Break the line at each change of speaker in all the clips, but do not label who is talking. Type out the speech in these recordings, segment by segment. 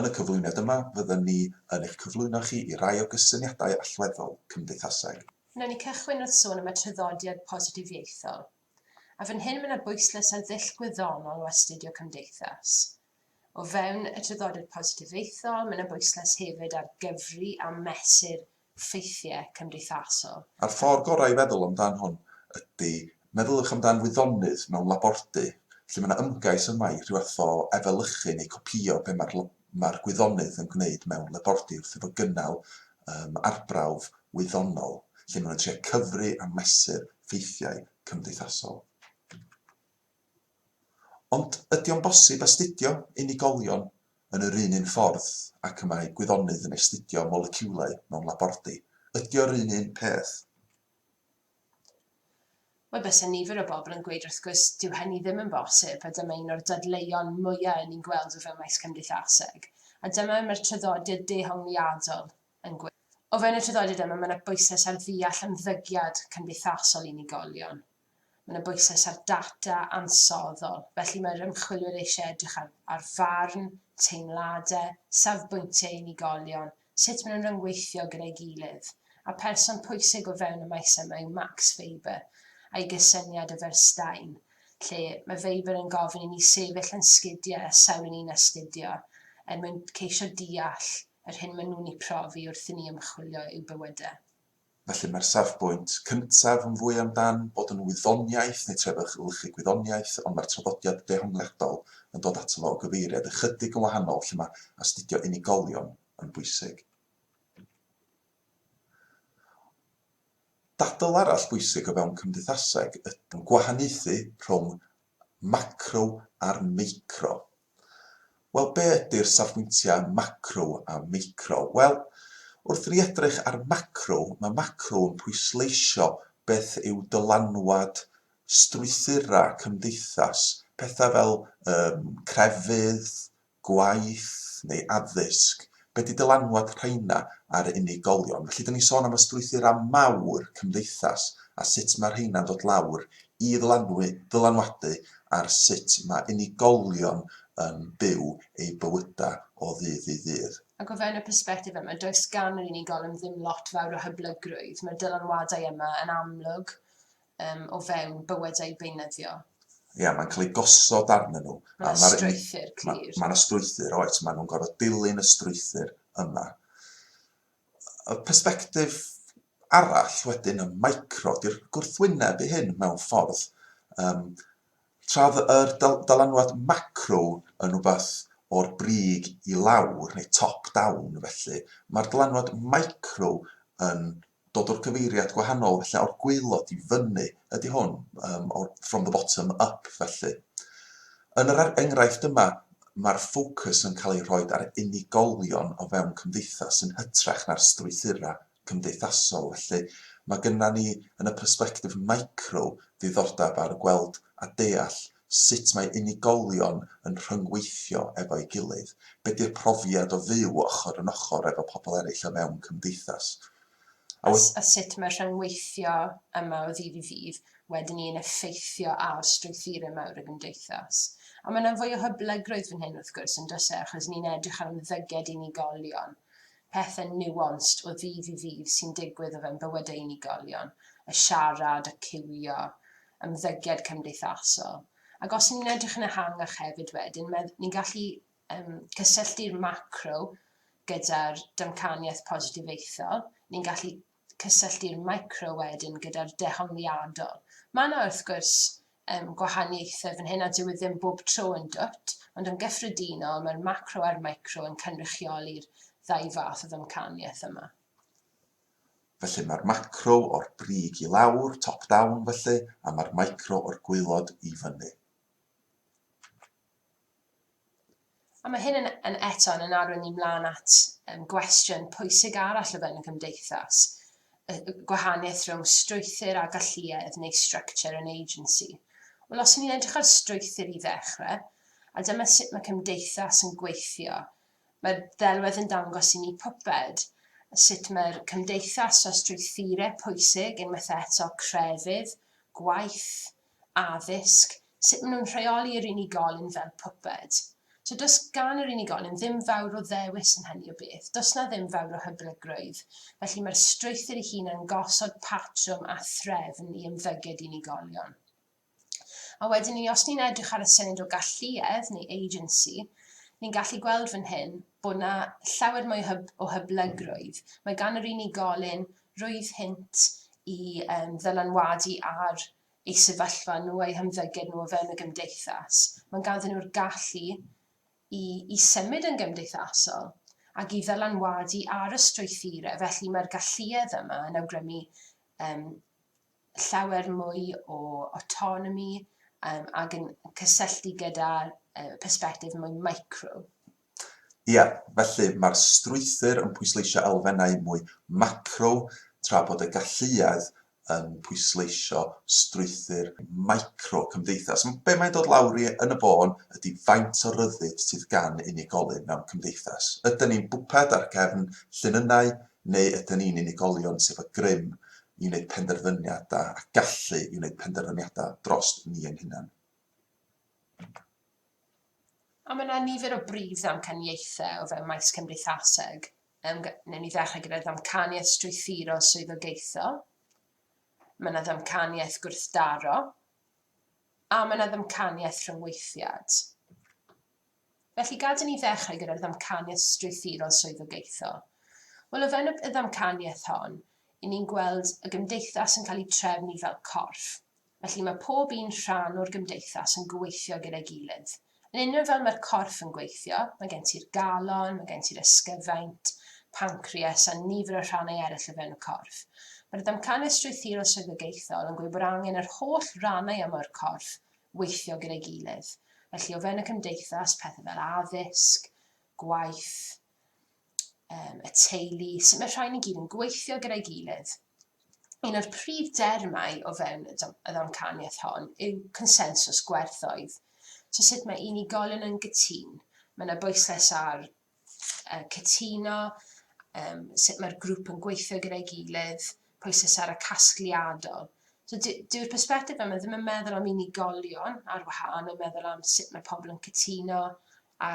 Yn y cyflwyniad yma, fydden ni yn eich cyflwyno chi i rai o gysyniadau allweddol cymdeithaseg. Wnawn ni cychwyn
wrth sôn am y traddodiad positifieithol. A fan hyn mae yna bwyslais ar ddull gwyddonol o astudio cymdeithas. O fewn y traddodiad positifieithol, mae yna bwyslais hefyd ar gyfri a mesur ffeithiau cymdeithasol. A'r ffordd gorau i
feddwl amdan hwn ydy, meddyliwch amdan wyddonydd mewn labordy, lle mae yna ymgais yma i rhyw fath o efelychu neu copïo be mae'r mae'r gwyddonydd yn gwneud mewn labordy wrth iddo gynnal um, arbrawf wyddonol, lle maen nhw'n trio cyfri a mesur ffeithiau cymdeithasol. Ond ydy o'n bosib astudio unigolion yn yr un un ffordd ac y mae gwyddonydd yn astudio moleciwlau mewn labordy? Ydy o'r un un peth?
Wel, byse nifer o bobl yn gweud wrth gwrs, dyw hynny ddim yn bosib, a dyma un o'r dadleuon mwya' yn ni'n gweld o fewn maes cymdeithaseg, a dyma mae'r traddodiad dehongliadol yn gweud. O fewn y traddodiad yma, mae yna bwyslais ar ddeall ymddygiad cymdeithasol unigolion. Mae yna bwyslais ar data ansoddol, felly mae'r ymchwilwyr eisiau edrych ar, ar farn, teimladau, safbwyntiau unigolion, sut maen nhw'n rhyngweithio gyda'i gilydd, a person pwysig o fewn y maes yma yw Max Weber, a'i gysyniad o Verstein, lle mae Weber yn gofyn i ni sefyll yn sgidiau a sawl ni'n astudio, er mwyn ceisio deall yr hyn maen nhw'n ei profi wrth i ni ymchwilio i'w bywydau. Felly mae'r
safbwynt cyntaf yn fwy am dan bod yn wyddoniaeth neu trefyglchu gwyddoniaeth, ond mae'r traddodiad dehongliadol yn dod ato fo o gyfeiriad ychydig yn wahanol lle mae astudio unigolion yn bwysig. Dadl arall bwysig o fewn cymdeithaseg ydy gwahaniaethu rhwng macro a'r meicro. Wel, be ydy'r safbwyntiau macro a meicro? Wel, wrth i ni edrych ar macro, mae macro yn pwysleisio beth yw dylanwad strwythurau cymdeithas, pethau fel yym crefydd, gwaith neu addysg, Be ydy dylanwad rheina ar unigolion? Felly, 'da ni'n sôn am y strwythurau mawr cymdeithas a sut mae rheina'n dod lawr i ddylanwu, dylanwadu ar sut mae unigolion yn byw eu bywydau o ddydd i ddydd. Ac o fewn y persbectif
yma, does gan yr unigolyn ddim lot fawr o hyblygrwydd. Mae'r dylanwadau yma yn amlwg um, o fewn bywyd eu beunyddio. Ie, yeah, mae'n cael ei
gosod arnyn nhw. Mae yna strwythyr
clir. Mae yna ma strwythyr, oes,
maen nhw'n gorfod dilyn y strwythyr yma. Y perspektif arall wedyn y micro, di'r gwrthwyneb i hyn mewn ffordd. Um, Traf yr dylanwad macro yn rhywbeth o'r brig i lawr, neu top-down felly, mae'r dylanwad micro yn dod o'r gyfeiriad gwahanol felly o'r gwaelod i fyny ydy hwn, um, or, from the bottom up felly. Yn yr enghraifft yma, mae'r ffocws yn cael ei rhoi ar unigolion o fewn cymdeithas yn hytrach na'r strwythurau cymdeithasol. Felly, mae gyda ni yn y persbectif micro ddiddordeb ar gweld a deall sut mae unigolion yn rhyngweithio efo'i gilydd, be 'di'r profiad o fyw ochr yn ochr efo pobl eraill o fewn cymdeithas, a
wedyn. A sut mae'r rhyngweithio yma o ddydd i ddydd wedyn ni yn effeithio ar strwythurau mawr y gymdeithas. A mae 'na fwy o hyblygrwydd fan hyn wrth gwrs, yn does e, achos ni'n edrych ar ymddygiad unigolion, pethau nuanced o ddydd i ddydd sy'n digwydd o fewn bywydau unigolion, y siarad, y ciwio, ymddygiad cymdeithasol. Ac os ni'n edrych yn ehangach hefyd wedyn, ni'n gallu um, cysylltu'r macro gyda'r damcaniaeth positifeithol, ni'n gallu cysylltu'r micro wedyn gyda'r dehongliadol. Mae yna wrth gwrs um, gwahaniaethau fan hyn a dyw e ddim bob tro yn dwt, ond yn gyffredinol mae'r macro a'r micro yn cynrychioli'r ddau fath o ddamcaniaeth yma.
Felly mae'r macro o'r brig i lawr, top down, felly, a mae'r micro o'r gwaelod i fyny.
A mae hyn yn, yn eto'n yn arwain ni mlaen at um, gwestiwn pwysig arall o fewn y gymdeithas, y gwahaniaeth rhwng strwythyr a galluedd neu structure and agency. Wel, os ni'n edrych ar strwythyr i ddechrau, a dyma sut mae cymdeithas yn gweithio, Mae'r ddelwedd yn dangos i ni puppet, sut mae'r cymdeithas a strwythurau pwysig unwaith eto, crefydd, gwaith, addysg, sut maen nhw'n rheoli yr unigolyn fel puppet. So does gan yr unigolyn ddim fawr o ddewis yn hynny o beth, does 'na ddim fawr o hyblygrwydd, felly mae'r strwythur ei hun yn gosod patrwm a threfn i ymddygiad unigolion. A wedyn ni, os ni'n edrych ar y syniad o galluedd neu agency, ni'n gallu gweld fan hyn bod yna llawer mwy hyb o hyblygrwydd. Mae gan yr unigolyn rwydd hynt i um, ddylanwadu ar ei sefyllfa nhw a'i hymddygiad nhw o fewn y gymdeithas. Mae'n ganddyn nhw'r gallu i, i symud yn gymdeithasol ac i ddylanwadu ar y strwythurau. Felly mae'r galluedd yma yn awgrymu um, llawer mwy o autonomy um, ac yn cysylltu gyda uh, persbectif mwy micro. Ia,
felly mae'r strwythur yn pwysleisio elfennau mwy macro tra bod y galluedd yn pwysleisio strwythur micro cymdeithas. Be mae'n dod lawr i yn y bôn ydy faint o ryddid sydd gan unigolyn mewn cymdeithas. Ydyn ni'n bwped ar gefn llinynau neu ydyn ni'n unigolion sydd â grym i wneud penderfyniadau a gallu i wneud penderfyniadau dros ni ein hunain?
A mae yna nifer o brif ddamcaniaethau o fewn maes cymdeithaseg. Um, newn ni ddechrau gyda'r ddamcaniaeth strwythurol swyddogaethol. Mae yna ddamcaniaeth gwrthdaro. A mae yna ddamcaniaeth rhyngweithiad. Felly gad i ni ddechrau gyda'r ddamcaniaeth strwythurol swyddogaethol. Wel, o fewn y ddamcaniaeth hon, i ni'n gweld y gymdeithas yn cael ei trefnu fel corff. Felly mae pob un rhan o'r gymdeithas yn gweithio gyda'i gilydd. Yn union fel mae'r corff yn gweithio, mae gen ti'r galon, mae gen ti'r ysgyfaint, pancreas a nifer o rhannau eraill o fewn y corff. Mae'r ddamcaniaeth strwythurol swyddogaethol yn gweud bod angen yr holl rannau yma o'r corff weithio gyda'i gilydd. Felly o fewn y cymdeithas, pethau fel addysg, gwaith, um, y teulu, sut mae'r rhain i gyd yn gweithio gyda'i gilydd. Un o'r prif dermau o fewn y ddamcaniaeth hon yw consensus gwerthoedd. So sut mae unigolion yn gytun, mae yna bwyslais ar yy cytuno, yym sut mae'r grŵp yn gweithio gyda'i gilydd, prosesara casgliadol. So dy- dyw'r persbectif yma ddim yn meddwl am unigolion ar wahân, mae'n meddwl am sut mae pobl yn cytuno a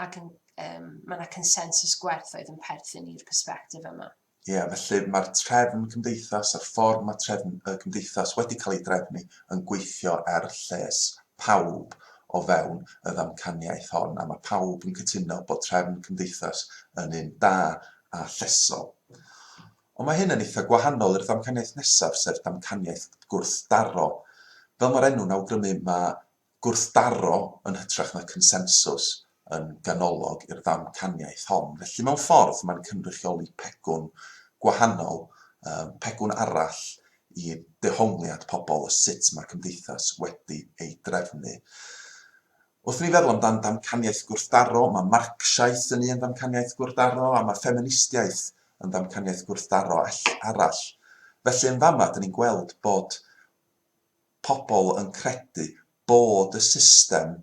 ac yn yym ma' 'na consensws gwerthoedd yn perthyn i'r persbectif yma. Ie, felly, mae'r
trefn cymdeithas a'r ffordd mae trefn y cymdeithas wedi cael ei drefnu yn gweithio er lles pawb o fewn y ddamcaniaeth hon, a mae pawb yn cytuno bod trefn cymdeithas yn un da a llesol. Ond mae hyn yn eitha' gwahanol i'r ddamcaniaeth nesaf, sef damcaniaeth gwrthdaro. Fel mae'r enw'n awgrymu, mae gwrthdaro yn hytrach na consensws yn ganolog i'r ddamcaniaeth hon. Felly, mewn ffordd, mae'n cynrychioli pegwn gwahanol, pegwn arall i dehongliad pobl o sut mae'r cymdeithas wedi ei drefnu. Wrth ni feddwl amdan ddamcaniaeth gwrthdaro, mae Marcsiaeth yn un ddamcaniaeth gwrthdaro, a mae ffeministiaeth yn ddamcaniaeth gwrthdaro arall. Felly, yn fama, dyn ni'n gweld bod Pobl yn credu bod y system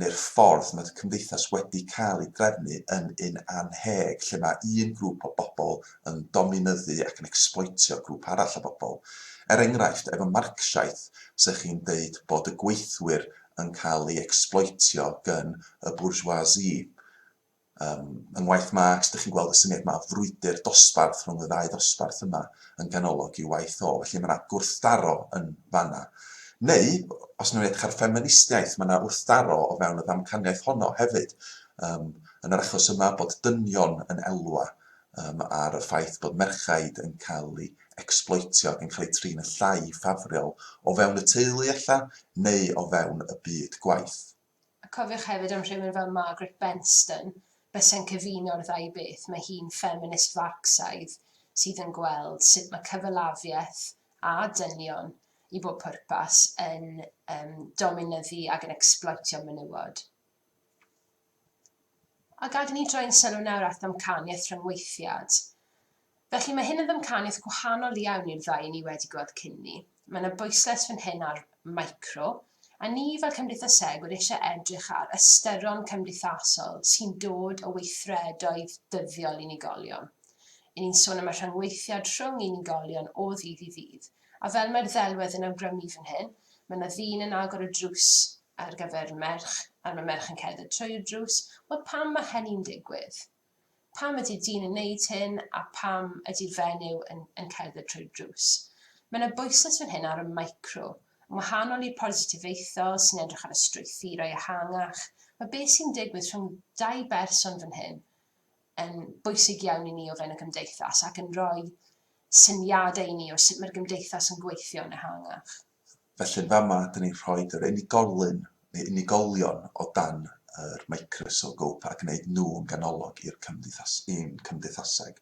neu'r ffordd mae'r cymdeithas wedi cael ei drefnu yn un annheg, lle mae un grŵp o bobl yn dominyddu ac yn ecsbloetio grŵp arall o bobl. Er enghraifft, efo Marcsiaeth, 'sech chi'n deud bod y gweithwyr yn cael ei ecsbloetio gyn y bourgeoisie. Ym ngwaith Marx, dych chi'n gweld y syniad yma o frwydr dosbarth rhwng y ddau ddosbarth yma yn ganolog i'w waith o. Felly, mae yna gwrthdaro yn fanna. Neu, os ni'n edrych ar ffeministiaeth, mae yna wrthdaro o fewn y ddamcaniaeth honno hefyd. Ym, yn yr achos yma, bod dynion yn elwa ym, ar y ffaith bod merchaid yn cael ei ecsbloetio ac yn cael eu trin yn llai ffafriol o fewn y teulu ella, neu o fewn y byd gwaith. A cofiwch
hefyd am rhywun fel Margaret Benston, byse'n cyfuno'r ddau beth, mae hi'n ffeminist Farcsaidd sydd yn gweld sut mae cyfalafiaeth a dynion i bob pwrpas yn dominyddu ac yn ecsbloetio menywod. A gad i ni droi'n sylw nawr at ddamcaniaeth rhyngweithiad. Felly, mae hyn yn ddamcaniaeth gwahanol iawn i'r ddau i ni wedi gweld cyn 'ny. Mae yna bwyslais fan hyn ar micro, a ni fel cymdeithasegwyr eisiau edrych ar ystyron cymdeithasol sy'n dod o weithredoedd dyddiol unigolion. Y'n ni'n sôn am y rhyngweithiad rhwng unigolion o ddydd i ddydd, A fel mae'r ddelwedd yn awgrymu fan hyn, mae 'na ddyn yn agor y drws ar gyfer merch, a mae merch yn cerdded trwy'r drws. Wel, pam mae hynny'n digwydd? Pam ydy'r dyn yn neud hyn, a pam ydy'r fenyw yn, yn cerdded trwy'r drws? Mae 'na bwyslais fan hyn ar y micro. Yn wahanol i'r positifeithol sy'n edrych ar y strwythurau ehangach, mae beth sy'n digwydd rhwng dau berson fan hyn yn bwysig iawn i ni o fewn y gymdeithas ac yn rhoi syniadau i ni o sut mae'r gymdeithas yn gweithio yn ehangach. Felly yn fama
dan ni'n rhoi yr unigolyn neu unigolion o dan yr microsgop a gwneud nhw'n ganolog i'n cymdeithaseg.